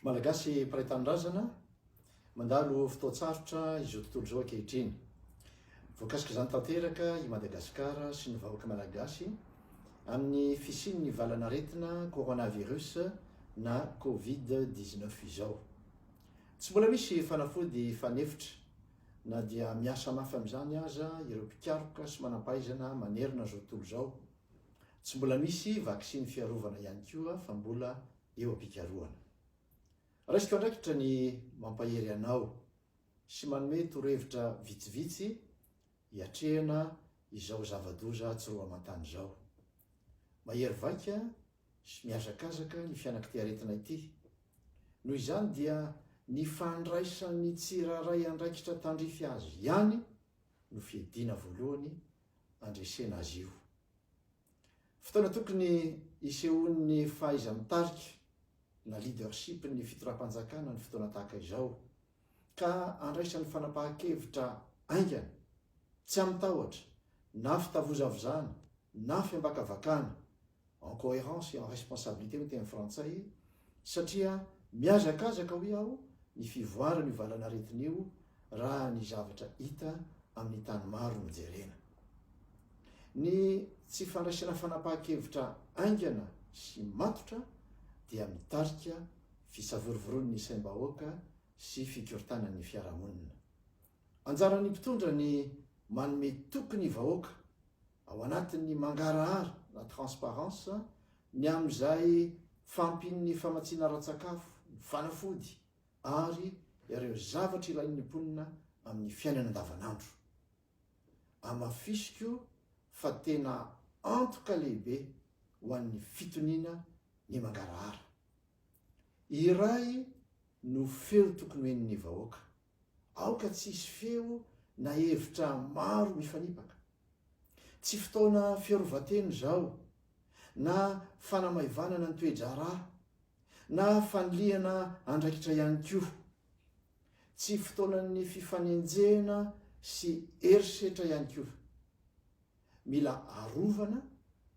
Malagasy mpiray tanindrazana, mandalo fotoan-tsarotra izao tontolo izao ankehitriny. Voakasik'izany tanteraka i Madagasikara sy ny vahoaka malagasy amin'ny fisian'ny valan'aretina coronavirus na covid 19 izao. Tsy mbola misy fanafody fanefitra na dia miasa mafy amin'izany aza ireo mpikaroka sy manam-pahaizana manerana izao tontolo izao. Tsy mbola misy vaksiny fiarovana ihany koa fa mbola eo am-pikarohana. Raisiko andraikitra ny mampahery anao sy manome torohevitra vitsivitsy hiatrehana izao zava-doza tsy roa aman-tany izao. Mahery vaika sy mihazakazaka ny fianakitiaretina ity. Noho izany dia ny fandraisan'ny tsirairay andraikitra tandrify azy ihany no fiadiana voalohany andresena azy io. Fotoana tokony hisehoan'ny fahaiza-mitarika na leadership-n'ny fitondram-panjakana ny fotoana tahaka izao, ka andraisan'ny fanapahan-kevitra haingana, tsy amin-tahotra na fitavozavozana na fiambakavakana, en cohérence et en responsabilité hoy ny teny frantsay, satria mihazakazaka hoy aho ny fivoaran'io valan'aretina io raha ny zavatra hita amin'ny tany maro no jerena. Ny tsy fandraisana fanapahan-kevitra haingana sy matotra dia mitarika fisavorovoroan'ny saim-bahoaka sy fikorontanan'ny fiarahamonina. Anjaran'ny mpitondra ny manome toky ny vahoaka. ao anatin'ny mangarahara na transparence, ny amin'izay fahampian'ny famatsiana ara-tsakafo, ny fanafody ary ireo zavatra ilain'ny mponina amin'ny fiainana andavanandro. Amafisiko fa tena antoka lehibe ho an'ny fitoniana ny mangarahara. Iray no feo tokony ho henon'ny vahoaka. Aoka tsy hisy feo na hevitra maro mifanipaka. Tsy fotoana fiarovan-tena izao, na fanamaivanana ny toe-draharaha, na fanilihana andraikitra ihany koa. Tsy fotoanan'ny fifanenjehana sy herisetra ihany koa. Mila arovana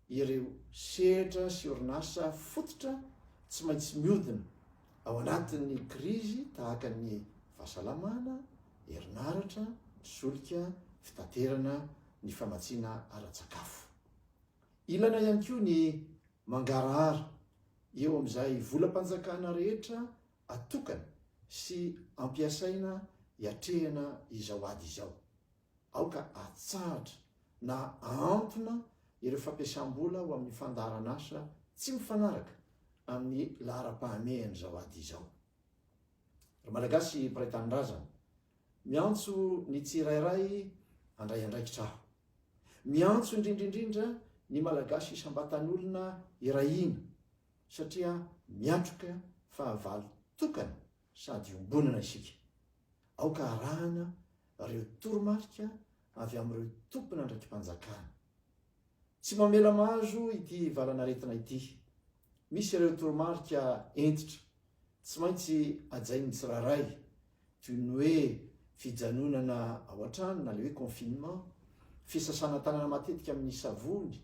ireo sehatra sy orinasa fototra tsy maintsy miodina ao anatin'ny krizy tahaka ny fahasalamana, herinaratra, ny solika, fitaterana, ny famatsiana ara-tsakafo. Ilana ihany koa ny mangarahara eo amin'izay volam-panjakana rehetra atokana sy ampiasaina hiatrehana izao ady izao. Aoka hatsahatra na hahantona ireo fampiasam-bola ho amin'ny fandaharan'asa tsy mifanaraka amin'ny laharam-pahamehan'izao ady izao. Ry Malagasy mpiray tanindrazana, miantso ny tsirairay handray andraikitra aho. Miantso indrindra indrindra ny Malagasy isam-batan'olona hirahina, satria miatroka fahavalo tokana sady iombonana isika. Aoka harahana ireo toromarika avy amin'ireo tompon'andraiki-panjakana. Tsy mamela mahazo ity valanaretina ity. Misy ireo toromarika hentitra tsy maintsy hajain'ny tsirairay, toy ny hoe fijanonana ao an-trano na ilay hoe confinement, fisasana tanana matetika amin'ny savony,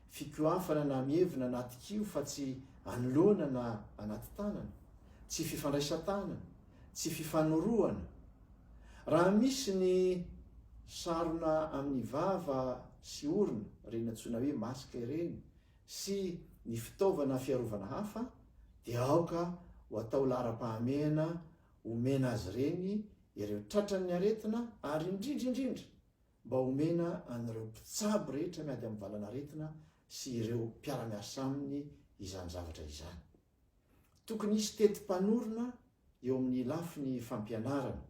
fikohafana na mievina anaty kiho fa tsy anoloana na anaty tanana, tsy fifandraisan-tanana, tsy fifanorohana. Raha misy ny sarona amin'ny vava sy orona, ireny antsoina hoe masque ireny, sy ny fitaovana fiarovana hafa dia aoka ho atao laharam-pahamehana omena azy ireny ireo tratran'ny aretina ary indrindra indrindra mba omena an'ireo mpitsabo rehetra miady amin'ny valan'aretina sy ireo mpiara-miasa aminy izany zavatra izany. Tokony hisy teti-panorona eo amin'ny lafiny fampianarana.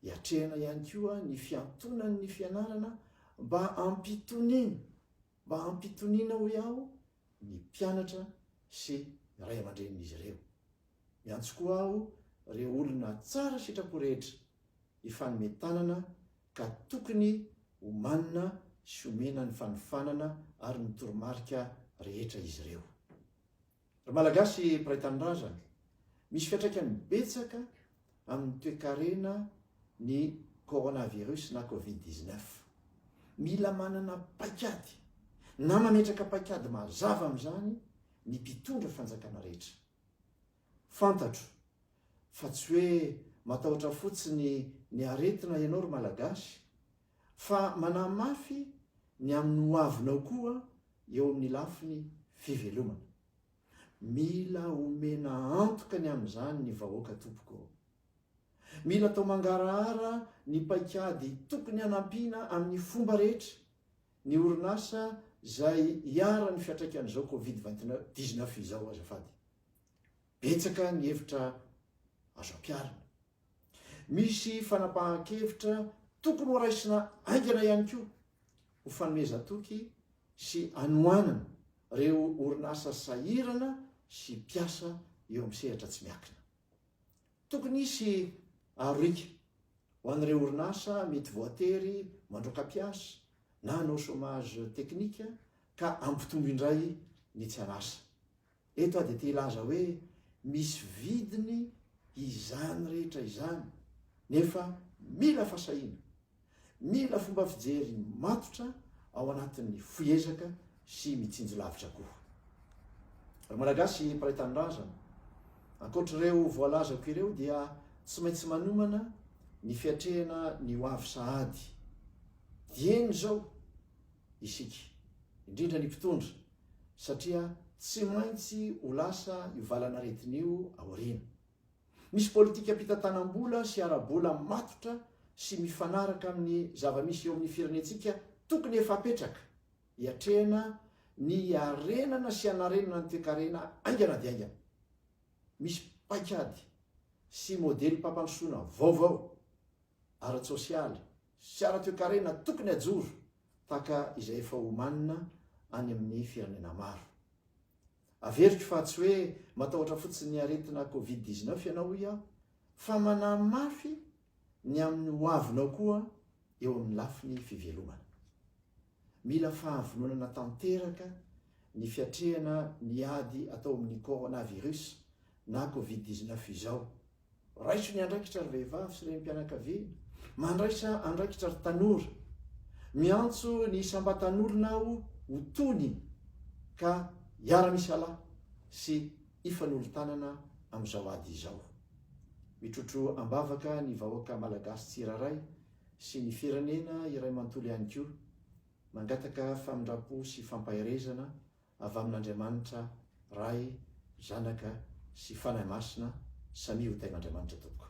Hiatrehana ihany koa ny fiantonan'ny fianarana mba hampitoniana, mba hampitoniana hoy aho, ny mpianatra sy ny ray aman-drenin'izy ireo. Miantso koa aho ireo olona tsara sitrapo rehetra hifanome tanana ka tokony homanina sy omena ny fanofanana ary ny toromarika rehetra izy ireo. Ry Malagasy mpiray tanindrazana, misy fiantraikany betsaka amin'ny toekarena ny Coronavirus na Covid dix-neuf. Mila manana paikady na mametraka paikady mazava amin'izany ny mpitondra fanjakana rehetra. Fantatro fa tsy hoe matahotra fotsiny ny aretina ianao ry Malagasy fa manahy mafy ny amin'ny ho avinao koa eo amin'ny lafiny fivelomana. Mila omena antoka ny amin'izany ny vahoaka tompoko ô. Mila atao mangarahara ny paikady tokony hanampiana amin'ny fomba rehetra ny orinasa izay iharan'ny fiantraikan'izao covid vingt dix neuf izao azafady. Betsaka ny hevitra azo ampiharina. Misy fanapahan-kevitra tokony ho raisina aingana ihany koa ho fanomezan-toky sy anohanana ireo orinasa sahirana sy mpiasa eo amin'ny sehatra tsy miakina. Tokony hisy arohika ho an'ireo orinasa mety voatery mandroaka mpiasa na hanao chômage technique ka hampitombo indray ny tsy an'asa. Eto aho dia te hilaza hoe misy vidiny izany rehetra izany nefa mila fasahiana. Mila fomba fijery matotra ao anatin'ny fihezaka sy mitsinjo lavitra koa. Ry Malagasy mpahay tanindrazana, ankoatr'ireo voalazako ireo dia tsy maintsy manomana ny fiatrehana ny ho avy sahady dieny izao isika, indrindra ny mpitondra, satria tsy maintsy ho lasa io valan'aretina io aoriana. Misy politikam-pitantanam-bola sy ara-bola matotra sy mifanaraka amin'ny zava-misy eo amin'ny firenentsika tokony efa apetraka hiatrehana ny hiarenana sy hanarenana ny toekarena haingana dia haingana. Misy paikady sy modelim-pampandrosoana vaovao ara-tsosialy sy ara-toekarena tokony hajoro tahaka izay efa omanina any amin'ny firenena maro. Averiko fa tsy hoe matahotra fotsiny ny aretina covid dix neuf ianao hoy aho, fa manahy mafy ny amin'ny ho avinao koa eo amin'ny lafiny fivelomana. Mila fahavononana tanteraka ny fiatrehana ny ady atao amin'ny coronavirus na covid dix neuf izao. Raiso ny andraikitra ry vehivavy sy renim-pianakaviana, mandraisa andraikitra ry tanora. Miantso ny isam-batanorona aho ho tony ka hiara-misalahy sy hifanolo-tanana amin'izao ady izao. Mitrotro am-bavaka ny vahoaka Malagasy tsirairay sy ny firenena iray manontolo ihany koa. Mangataka famindram-po sy fampaherezana avy amin'Andriamanitra Ray, Zanaka sy Fanahy Masina, samia ho tain'Andriamanitra tompoko.